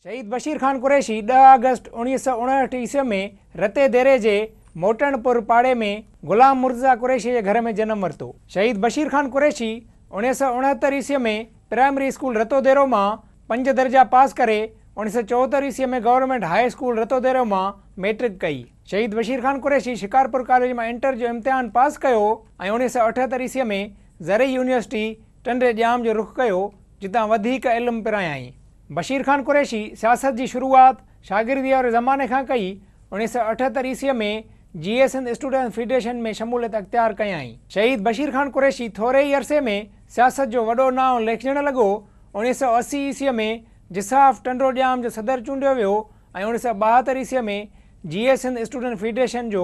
شهيد بشير خان قريشي ڏهه آگسٽ اوڻيهه سؤ اڻهٺ عيسوي ۾ رتي ديري جي موٽڻ پور پاڙي ۾ غلام مرتضيٰ قريشي جي گهر ۾ جنم ورتو. شهيد بشير خان قريشي اوڻيهه سؤ اڻهتر عيسوي ۾ پرائمري اسڪول رتو ديرو مان پنج درجا پاس ڪري اوڻيهه سؤ چوهتر عيسوي ۾ government high school Rato Dero مان ميٽرڪ ڪئي. شهيد بشير خان قريشي شڪارپور ڪاليج مان انٽر جو امتحان پاس ڪيو ۽ اوڻيهه سؤ اٺهتر عيسوي ۾ زرعي يونيورسٽي ٽنڊي ڄام جو رخ ڪيو جتان وڌيڪ علم پرايائين. بشير خان قريشي سياست جي شروعات شاگرديء واري زماني کان ڪئي. اڻيهه سؤ اٺهتر عيسويء ۾ جي اي سنڌ اسٽوڊنٽس فيڊريشن ۾ شموليت اختيار ڪيائين. شهيد بشير خان قريشي ٿوري ئي عرصي ۾ سياست جو وڏو نانء ليکجڻ لڳو. اڻيهه سؤ اسي عيسويء ۾ جساف ٽنڊو ڄام جو صدر چونڊيو ويو ۽ اڻيهه سؤ ٻاهتر عيسويء ۾ جي اي سنڌ اسٽوڊنٽس فيڊريشن جو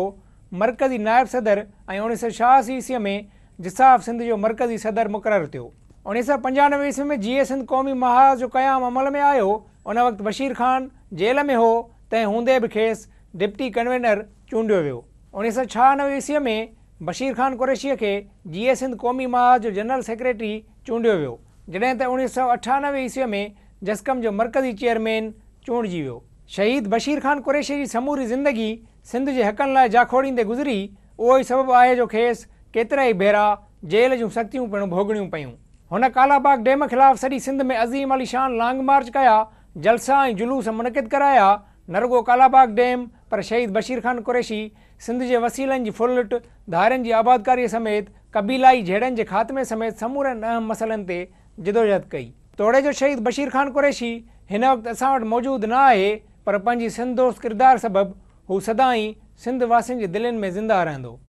مرڪزي نائب صدر ۽ اڻيهه سؤ ڇهاسي عيسويء ۾ جساف سنڌ جو مرڪزي صدر مقرر ٿيو. اڻيهه سؤ پنجانوي عيسوي ۾ جيئي سنڌ قومي محاذ جو قيام عمل ۾ آيو، ان وقت بشير خان جيل ۾ هو، تنهن هوندي به کيس ڊپٽي ڪنوينر چونڊيو ويو. اڻيهه سؤ ڇهانوي عيسوي ۾ بشير خان قريشيء کي جيئي سنڌ قومي محاذ جو جنرل سيڪريٽري چونڊيو ويو، جڏهن ته اڻيهه سؤ اٺانوي عيسوي ۾ جسقم جو مرڪزي چيئرمين چونڊجي ويو. شهيد بشير خان قريشيء جي سموري زندگي سنڌ جي حقن لاء جاکوڙيندي گذري، اهو ئي سبب آهي جو کيس ڪيترائي ڀيرا جيل جون سختيون پڻ ڀوڳڻيون پيون. هن ڪالاباغ ڊيم خلاف سڄي سنڌ ۾ عظيم الشان لانگ مارچ ڪيا، جلسا ۽ جلوس منعقد ڪرايا، نه رڳو ڪالاباغ ڊيم پر شهيد بشير خان قريشي، سنڌ جي وسيلن جي ڦرلٽ، ڌارين جي آبادڪاري سميت قبيلائي جهيڙن جي خاتمي سميت سمورن اهم مسئلن تي جدوجهد ڪئي. توڙي جو شهيد بشير خان قريشي هن وقت اسان وٽ موجود نه آهي پر پنهنجي سنڌ دوست ڪردار سبب هو سدائين سنڌ واسين جي دلين ۾ زنده رهندو.